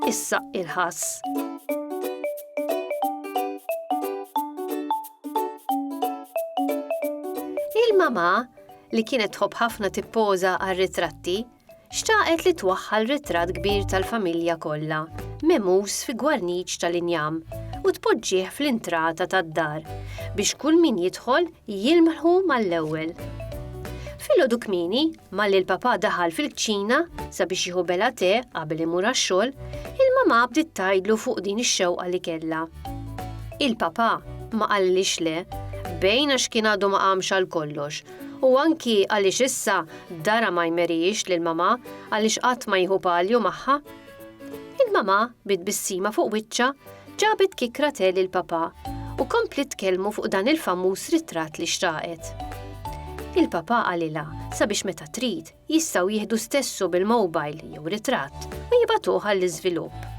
Issa il-ħass. Il-mama li kienet tħobb ħafna tippoża għar-ritratti Xtaqet li twaħħal ritratt kbir tal-familja kollha, memus fi gwarniċ tal-injam, u tpoġġih fl-intrata tad-dar biex kull min jidħol jilmħu mal-ewwel. Filgħodu kmieni, malli l-papà daħal fil-kċina sabiex jieħu bela te qabel imur għax-xogħol, il-mamà bdiet tgħidlu fuq din ix-xewqa li kellha. Il-papà ma qallilhiex le, bejn għax kien għadu ma qamx għal kollox U anki għaliex issa dara ma jmerijiex lil mamà għaliex qatt ma jieħu palju magħha. Il-mamà bi tbissima fuq wiċċa ġabet kikra te lil papà u kompliet tkellmu fuq dan il-famuż ritratt li xtraqet. Il-papà qalilha sabiex meta trid jistgħu jieħdu stessu bil-mowbajl jew ritratt u jibagħtuh għall-iżvilupp.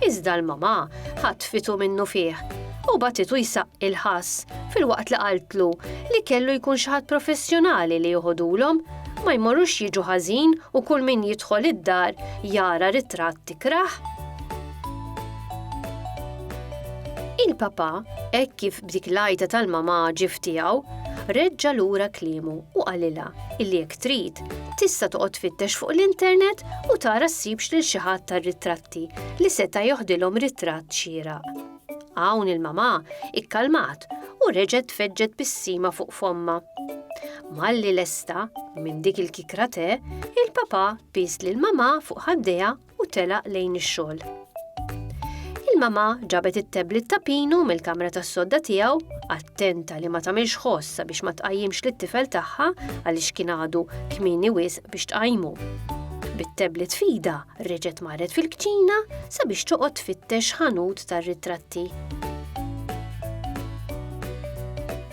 Iżda l-mamà ħatfitu minnufih u bagħtitu jsaqqi l-ħass filwaqt li qaltlu li kellu jkun xi ħadd professjonali li joħodulhom ma jmorrux jiġu ħażin u kull min jidħol id-dar jara ritratt tikrah. Il-papà hekk kif B'dik l-għajta tal-mamaġif tiegħu, reġġa' lura kliemu u qalilha illi jekk trid, tista' toqgħod tfittex fuq l-internet u tara ssibx lil xi ħadd tar-ritratti li seta' joħdilhom ritratt xieraq. Hawn il-mamà ikkalmat u reġgħet tfeġġet bissima fuq fommha. Malli lesta minn dik il-kikra te, il-papà pies lill-mamà fuq ħaddejha u telaq lejn ix-xogħol. Il-mama ġabet it-tablet ta' Pinu mill-kamra tas-sodda tiegħu, attenta li ma tagħmilx ħoss sabiex ma tqajjimx lit-tifel tagħha għaliex kien għadu kmieni wisq biex tqajmu. Bit-tablet fida reġgħet marret fil-kċina sabiex toqgħod tfittex ħanut tar-ritratti.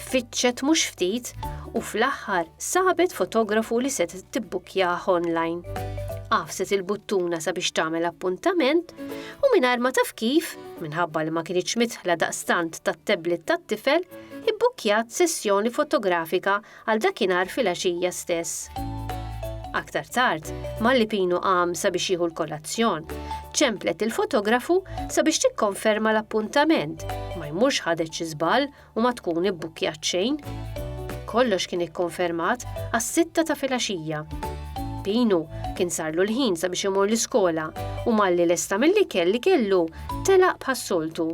Fittxet mhux ftit u fl-aħħar sabet fotografu li se tibbukkjah online. Għafset il-buttuna sabiex tagħmel appuntament u mingħajr ma taf kif, minħabba li ma kienx mitħla daqstant tat-tablet tat-tifel, ibbukkjat sessjoni fotografika għal dakinhar fil-għaxija stess. Aktar tard, malli Pinu qam sabiex jieħu l-kolazzjon, ċemplet il-fotografu sabiex tikkonferma l-appuntament, ma jmurx ħadet xi żball u ma tkun ibbukkjat xejn. Kollox kien ikkonfermat għas-sitta ta' filgħaxija. Pinu kien sarlu l-ħin sabiex imur l-iskola u malli lesta mill-ikel li kellu telaq bħas-soltu.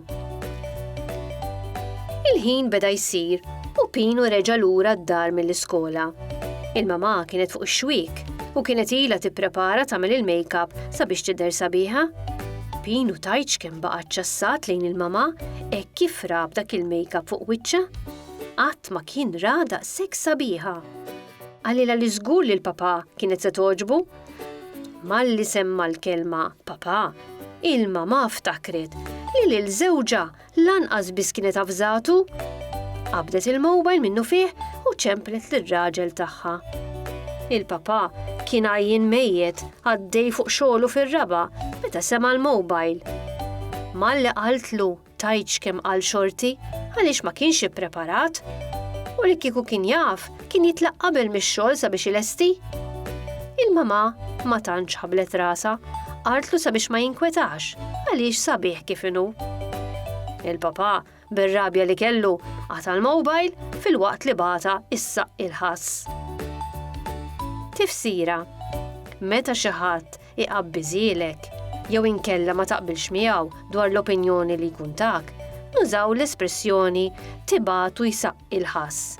Il-ħin beda jsir u Pinu reġa' lura d-dar mill-iskola. Il-mamà kienet fuq ix-xwiek u kienet ilha tipprepara tagħmel il-makeup sabiex tidher sabiħa. Pinu tajt x'kemm baqa' ċċassat lejn il-mamà Hekk kif ra b'dak il-makeup fuq wiċċha, qatt ma kien ra daqshekk sabiħa. Qalilha li żgur li l-papà kienet se togħġbu. Malli semma l-kelma papà, il-mamà ftakret li lil żewġha lanqas biss kienet avżatu. Qabdet il-mobile minnu fih u ċemplet lir-raġel tagħha. Il-papà kien għajjin mejjet Għaddej fuq xogħlu fir-raba' meta sema' l-mowbajl. Malli qaltlu tajt x'kemm qal xorti għaliex ma kienx ippreparat u li kieku kien jaf kien jitlaq qabel mix-xogħol sabiex ilesti. Il-mamà ma tantx ħablet rasha, qaltlu sabiex ma jinkwetax għaliex sabiħ kif inhu. Il-papà bir-rabja li kellu, qata' l-mowbajl filwaqt li bagħatha issaqq il-ħass. Tifsira, Meta xi ħadd iqabbiżilek jew inkella ma taqbilx miegħu dwar l-opinjoni li jkun tak, nużaw l-espressjoni tibatu jsaqq il-ħass.